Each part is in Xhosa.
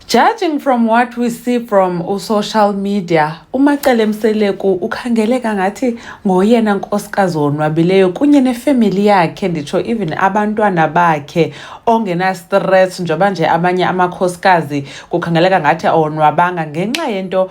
Judging from what we see from usocial media, uMacele Mseleku ukhangeleka ngathi ngoyena nkosikazi wonwabileyo kunye nefemeli yakhe nditsho even abantwana bakhe ongenastress njengoba nje amanye amakhosikazi kukhangeleka ngathi awonwabanga ngenxa yento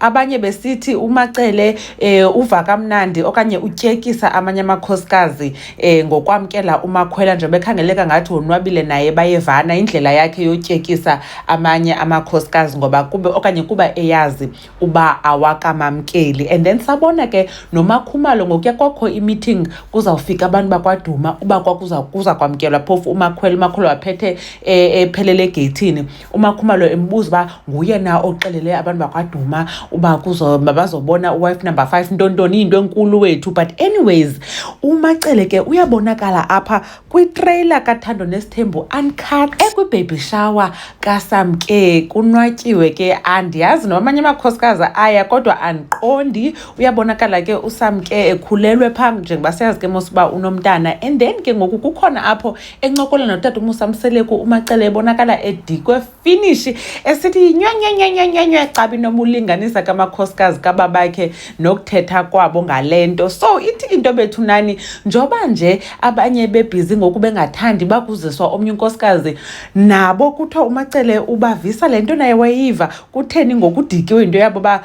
abanye besithi umacele eh uva kamnandi okanye utyekisa amanye amakhosikazi eh ngokwamkela umakhwela nje bekhangeleka ngathi wonwabile naye bayevana indlela yakhe yotyekisa amanye amakhosikazi ngoba kube okanye kuba eyazi uba awakamamkeli and then sabona ke nomakhumalo ngokuya kwakho imeeting kuzawufika abantu bakwaduma uba kwakuza kuza kwamkelwa phofu umakhwela umakhwela waphethe eh, ephelele egeyithini umakhumalo embuza uba nguye na oxelele abantu bakwaduma uba bazobona uwife number five ntontoni into enkulu wethu but anyways umacele ke uyabonakala apha kwitreyila kathando nesithembu uncut ekwibaby shower kasam ke kunwatyiwe ke andiyazi noba amanye amakhosikazi aya kodwa andiqondi uyabonakala ke usam ke ekhulelwe phaa njengoba siyazi ke mos uba unomntana and then ke ngoku kukhona apho encokola notata umusa mseleku umacele ebonakala edikwe finishi esithi yinyonyonyonyonyonyo cabi noma ulinganisa kamakhosikazi kababakhe nokuthetha kwabo ngale nto so ithi into bethu nani njoba nje abanye bebhizi ngoku bengathandi bakuziswa omnye unkosikazi nabo kuthiwa umacele ubavisa le nto naye wayiva kutheni ngokudikiwe into yabo uba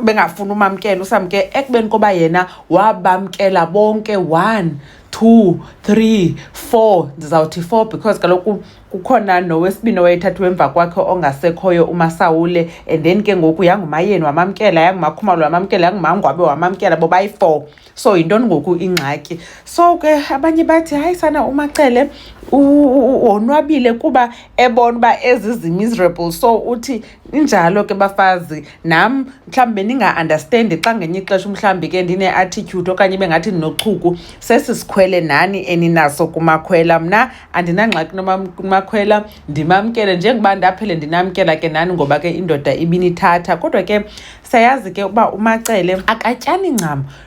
bengafuni umamkela usamke ekubeni koba yena wabamkela bonke one two three four ndizawuthi four because kaloku kukhona nowesibini owayethathwa emva kwakhe ongasekhoyo umasawule and then ke ngoku yangumayeni wamamkela yangumakhumalo wamamkela yangumangwabe wamamkela bobayi-four so yintoni ngoku ingxaki so ke abanye bathi hayi sana umacele wonwabile kuba ebona uba ezi zi-miserable so uthi injalo ke bafazi nam mhlawumbi bendinga-andastendi xa ngenye ixesha umhlawumbi ke ndine-attitude okanye bengathi ndinochuku sesi sikhwele nani eninaso kumakhwela mna andinangxaki kumakhwela ndimamkele njengoba ndaphele ndinamkela ke nani ngoba ke indoda ibinithatha kodwa ke sayazi ke uba umacele akatyani ncam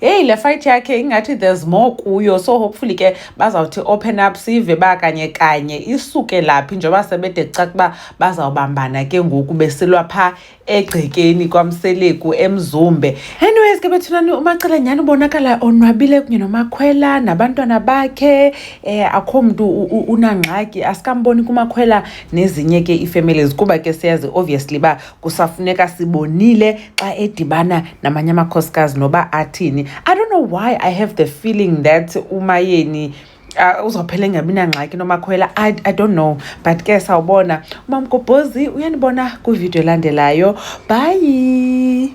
heyi le fight yakhe ingathi there's more kuyo so hopefully ke bazawuthi open up sive ba kanye kanye isuke laphi njengoba sebede caca ukuba bazawubambana ke ngoku besilwa phaa egcekeni kwamseleku emzumbe anyways ke bethunani umacela nyhani ubonakala onwabile kunye nomakhwela nabantwana bakhe um akho mntu unangxaki asikamboni kumakhwela nezinye ke ii-families kuba ke siyazi obviously uba kusafuneka sibonile xa edibana namanye amakhosikazi noba athini i don't know why i have the feeling that umayeni Uh, uzophela engabi nangxaki nomakhwela I, i don't know but ke sawubona umamgobhozi uyanibona kwividiyo elandelayo bhayi